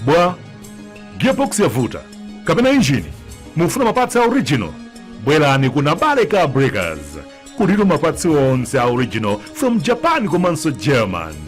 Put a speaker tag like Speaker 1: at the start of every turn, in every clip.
Speaker 1: bwa gearbox yavuta kapena injini mufuna mapats a original bwerani ku nabale car breakers kulitu mapats onse a original from japan komanso Germany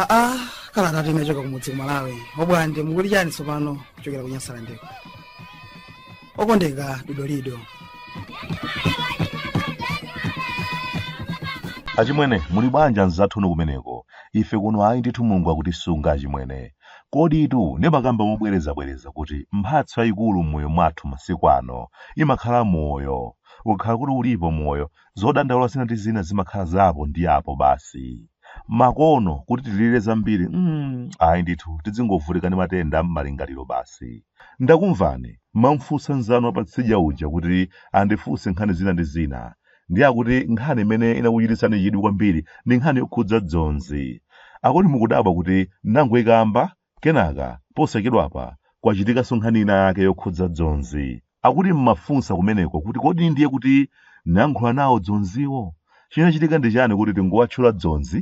Speaker 1: aa kala tatinachoka kumudzi ku malawi bwa nde mukuti chani tsopano kuchokera ku nyasalandeko okondeka dodolido achimwene muli bwanji anzathunu kumeneko ife kuno ayi ndithu mulungu akutisunga achimwene koditu ndimakamba mobwerezabwereza kuti mphatso yayikulu m'moyo mwathu masiku ano imakhala moyo ukakhala kuti ulipo moyo zodandaula zina ndi zina zimakhala zapo ndi apo basi nkana kuti tilirire zambiri mm, ayi ndithu tidzingovutika ndi matenda am'malingaliro basi ndakumvani munamfunsa nzanu wapatsidya uja kuti andifunse nkhani zina ndi zina ndiye akuti nkhani imene inakuchititsani chidwi kwambiri ndi nkhani yokhudza dzonzi akuti mukudabwa kuti nangoikamba Kenaka, posachedwapa, kwachitikanso nkhani inayake yokhudza dzonzi. Akuti m'mafunsa kumeneko kuti kodi ndiye kuti ndinayankhula nawo dzonziwo? Chinachitika ndi chani kuti tikuwatchula dzonzi?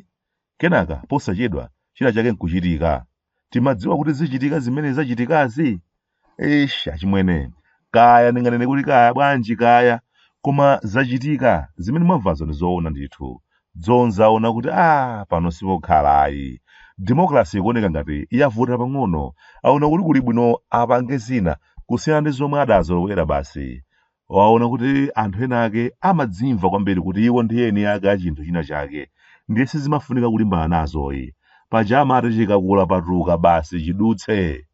Speaker 1: Kenaka, posachedwa, china chake nkuchitika. Timadziwa kuti zichitika zimene zachitikazi? eish achimwene kaya ndinganene kuti kaya bwanji kaya koma zachitika zimene mwamvazo ndi zoona ndithu dzonzi aona kuti a pano sipokhala ayi democracy ikuoneka ngati yavuta pang'ono aona kuti kuli bwino apange zina kusiyana ndi zomwe adazolowera basi waona kuti anthu ena ake amadzimva kwambiri kuti iwo ndi eni ake a chinthu china chake ndiye sizimafunika kulimbana nazo ayi paja amati chikakula patuka basi chidutse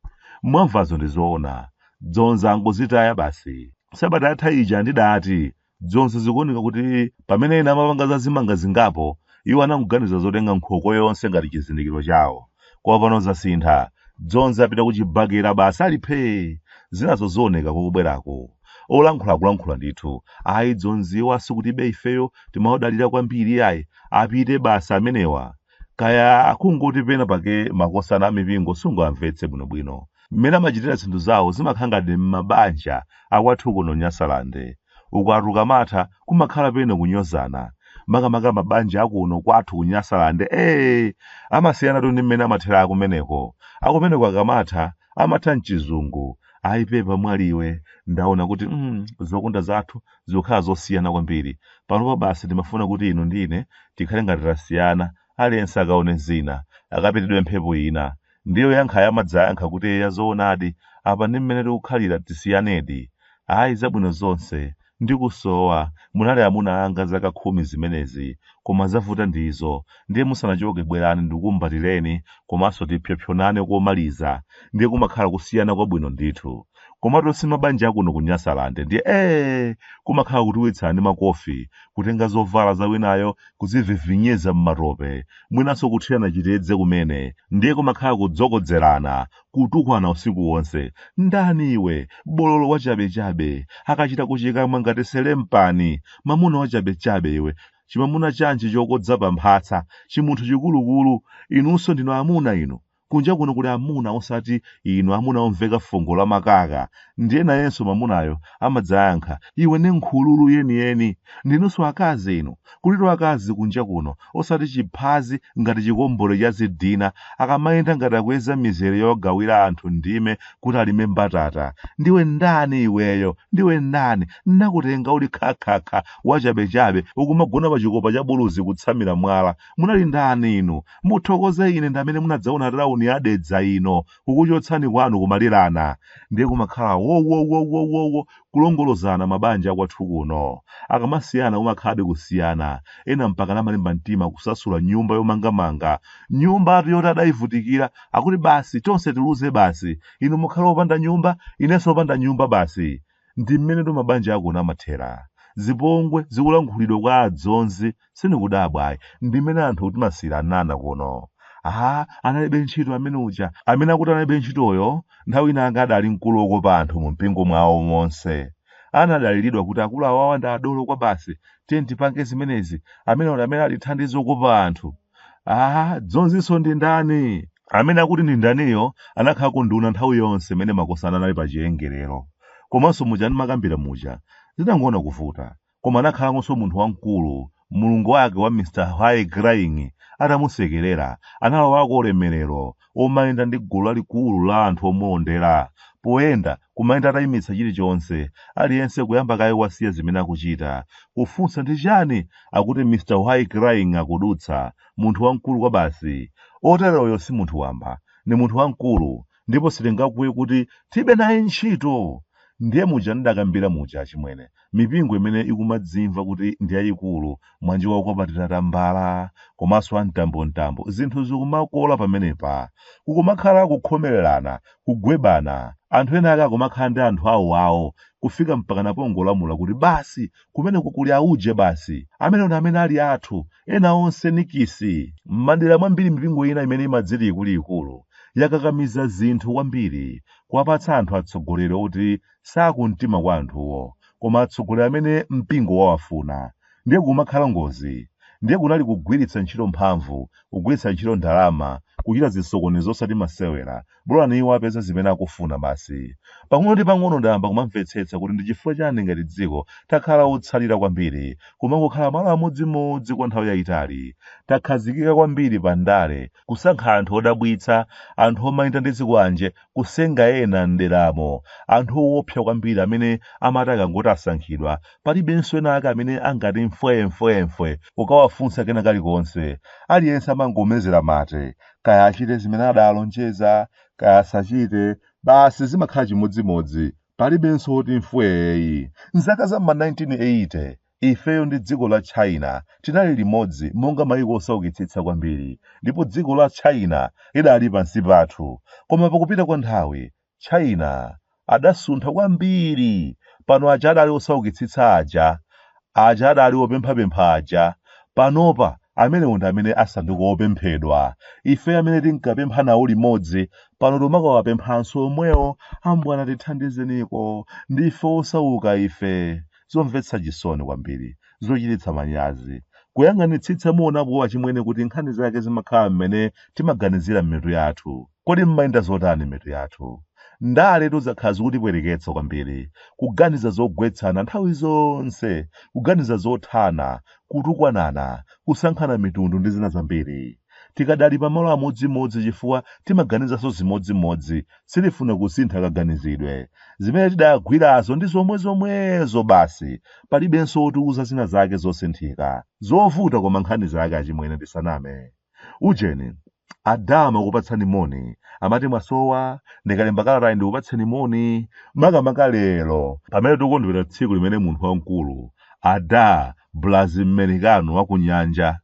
Speaker 1: mwamvazo ndi zoona dzonzi angozitaya basi sabata yatha ija ndidati dzonzi zikuoneka kuti pamene ena amapanga za zimanga zingapo iwo anangoganiza zotenga nkhoko yonse ngati chizindikiro chawo Koma pano zasintha. Dzonzi apita kuchibakera basi ali phee. Zinazo zioneka kokubweraku. Olankhula akulankhula ndithu. Ayi Dzonziwa sikutinso ifeyo timawadalira kwambiri ayi. Apite basi amenewa. Kaya akungoti pena pake makosana a mipingo sungawamvetse bwinobwino. Mmene amachitira zinthu zawo zimakhala ngati m'mabanja akwathu kuno Nyasalande. Ukwati ukamatha kumakhala pena kunyozana. Makamaka mabanja akuno kwathu ku Nyasaland ee amasiyanatu ndi mmene amathera akumeneko. Akumeneko akamatha amatha m'chizungu. Ayi pepa mwali iwe ndaona kuti mm, zokonda zathu zikukhala zosiyana kwambiri. Panopa basi timafuna kuti inu ndi ine tikhale ngati tasiyana aliyense akaone zina akapitidwe mphepo ina ndiye oyankhayo amadzayankha kuti yoo ya zoonadi apa ndi mmene tikukhalira tisiyanedi ayi zabwino zonse ndikusowa munali amuna anga zaka khumi zimenezi koma zavuta ndizo ndiye musanachoke bwerani ndikumbatireni komanso tipsopsonane komaliza ndiye kumakhala kusiyana kwabwino ndithu komatu si mabanja akuno ku nyasalande ndiye ee kumakhala kutiwitsana ndi makofi kutenga zovala za winayo kudzivivinyiza m'matope mwinanso kuthirana chitedze kumene ndiye kumakhala kudzokodzerana kutukwana usiku wonse ndani iwe bololo wachabechabe akachita kuchikamwa ngati selempani mamuna wachabechabe iwe chimamuna chanji chokodza pa mphasa chimunthu chikulukulu inunso ndinu amuna inu Kunja kuno kuli amuna osati inu amuna omveka fungo la makaka. Ndiye nayenso mamunayo amadzayankha, iwe ndi nkhululu yeniyeni. Inunso akazi inu. Kulitu akazi kunja kuno, osati chiphazi ngati chikombole cha zidina, akamayenda ngati akuyeza mizere yogawira anthu ndime kuti alime mbatata. Ndiwe ndani iweyo? Ndiwe ndani? Ndinakutenga uli khakhakha, wachabechabe, ukumagona pa chikopa cha buluzi kutsamira mwala. munali ndani inu muthokoze ine ndi amene munadzaona tauni ya dedza ino kukuchotsani kwanu kumalirana ndiye kumakhala wowowowowowo kulongolozana mabanja akwathu kuno akamasiyana umakhalabe kusiyana ena mpaka namalimba mtima kusasula nyumba yomangamanga nyumbatu yoti adayivutikira akuti basi tonse tiluze basi inu mukhale opanda nyumba inenso opanda nyumba basi ndi mmenetu mabanja akuno amathera zipongwe zikulankhulidwa kwa adzonzi sindikudabwa ayi ndi mmene anthu timasiyiranana kuno aha analibe ntchito amene uja amene akuti analibe ntchitoyo nthawi inayake adali mkulu wokopa anthu mu mpingo mwawo monse anadaliridwa kuti akulu awawa ndi adolo kwabasi tiye tipange zimenezi amene amene ali thandizo okopa anthu ah dzonzinso ndi ndani amene akuti ndi ndaniyo anakhala kunduna nthawi yonse imene makosana anali pa chiyengerero komanso muja ndimakambira muja zinangoona kuvuta koma anakhalanso munthu wamkulu mulungu wake wa mr why crying atamusekerera analowako ulemerero omayenda ndi gulu lalikulu la anthu omulondera poyenda kumayenda atayimitsa chilichonse, aliyense kuyamba kaye wasiya zimene akuchita, kufunsa ndi chiyani akuti Mr Why Crying akudutsa, munthu wamkulu kwabasi, oteroyo si munthu wamba, ndi munthu wamkulu, ndipo sitingakuwe kuti tibe naye ntchito! Ndiye muja ndidakambira muja achimwene, mipingo imene ikumadzimva kuti ndi yayikulu monga wa okwapatira tambala komanso amtambomtambo zinthu zikumakola pamenepa kukumakhala kukhomererana kugwebana anthu ena ake akumakhala ndi anthu awo awo kufika mpakana pongolamula kuti basi kumeneko kuli auje basi amenewo ndi amene ali athu ena onse nikisi m'madera mwambiri mipingo ina imene imadziti ikuluikulu yakakamiza zinthu kwambiri kuwapatsa anthu atsogoleri oti sakumtima kwa anthuwo koma atsogoleri amene mpingo wawafuna ndiye kumakhala ngozi ndiye kunali kugwiritsa ntchito mphamvu kugwiritsa ntchito ndalama kuchita zisokonezo osati masewera bolani iwo apeze zimene akufuna basi pang'ono ndi pang'ono ndayamba kumamvetsetsa kuti ndi chifukwa chani ngati dziko takhala otsalira kwambiri kumangokhala malo amodzimodzi kwa nthawi yayitali takhazikika kwambiri pa ndale kusankha anthu odabwitsa anthu omayenda ndi zikwanje kusenga ena m'deramo, anthu owopsa kwambiri amene amati akangoti asankhidwa, palibenso ena ake amene angati mfwee mfwee mfwee kukawafunsa kena kalikonse. Aliyense amangomezera mate. Kaya achite zimene adaalonjeza, kaya asachite, basi zimakhala chimodzimodzi. Palibenso woti mfwee yi. M'zaka za m'ma 1980. Ifeyo ndi dziko la China tinali limodzi monga mayiko osaukitsitsa kwambiri ndipo dziko la China lidali pansi pathu. Koma pakupita kwa nthawi, China adasuntha kwambiri. Pano aja adali osaukitsitsa aja, aja adali opemphapempha aja, panopa amenewo ndi amene asanduka opemphedwa. Ifeyo amene tinkapempha nawo limodzi, pano timakawapemphanso omwewo, ambwana tithandizeniko, ndife osauka ife. zomvetsa chisoni kwambiri, zochititsa manyazi, kuyang'anitsitsa muonapo achimwene kuti nkhani zake zimakhala mmene timaganizira m'mitu yathu. Kodi mmayenda zotani m'mitu yathu? Ndaletu zakhala zikutipweteketsa kwambiri, kuganiza zogwetsana nthawi zonse, kuganiza zothana, kutukwanana, kusankhana mitundu ndi zina zambiri. Tikadali pamalo amodzimodzi chifukwa timaganizanso zimodzimodzi, sitifuna kusintha kaganizidwe. Zimene tidagwirazo ndi zomwezomwezo basi, palibenso wotiuza zina zake zosinthika. Zovuta koma nkhani zake achimwene tisaname. Ujeni, ada amakupatsani moni, amati mwasowa, ndikalemba kalatayi ndikupatseni moni, makamaka lero pamene tikukondwerera tsiku limene munthu wamkulu, Ada Blazi Mmericano wa ku Nyanja,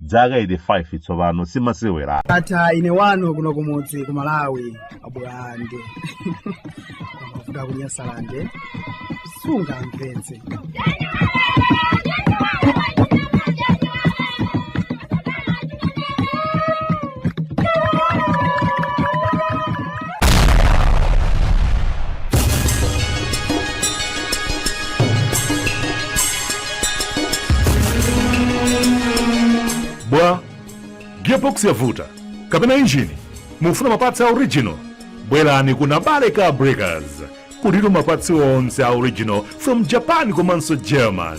Speaker 1: dzaka 85 tsopano si masewera ndatha ine wanu kuno kumudzi ku malawi abulande kuda kunyasalande sungamvetse bwa gearbox yavuta kapena injini mukufuna mapatsi a original bwerani ku nabale car breakers kuli mapatsi onse a original from japan komanso german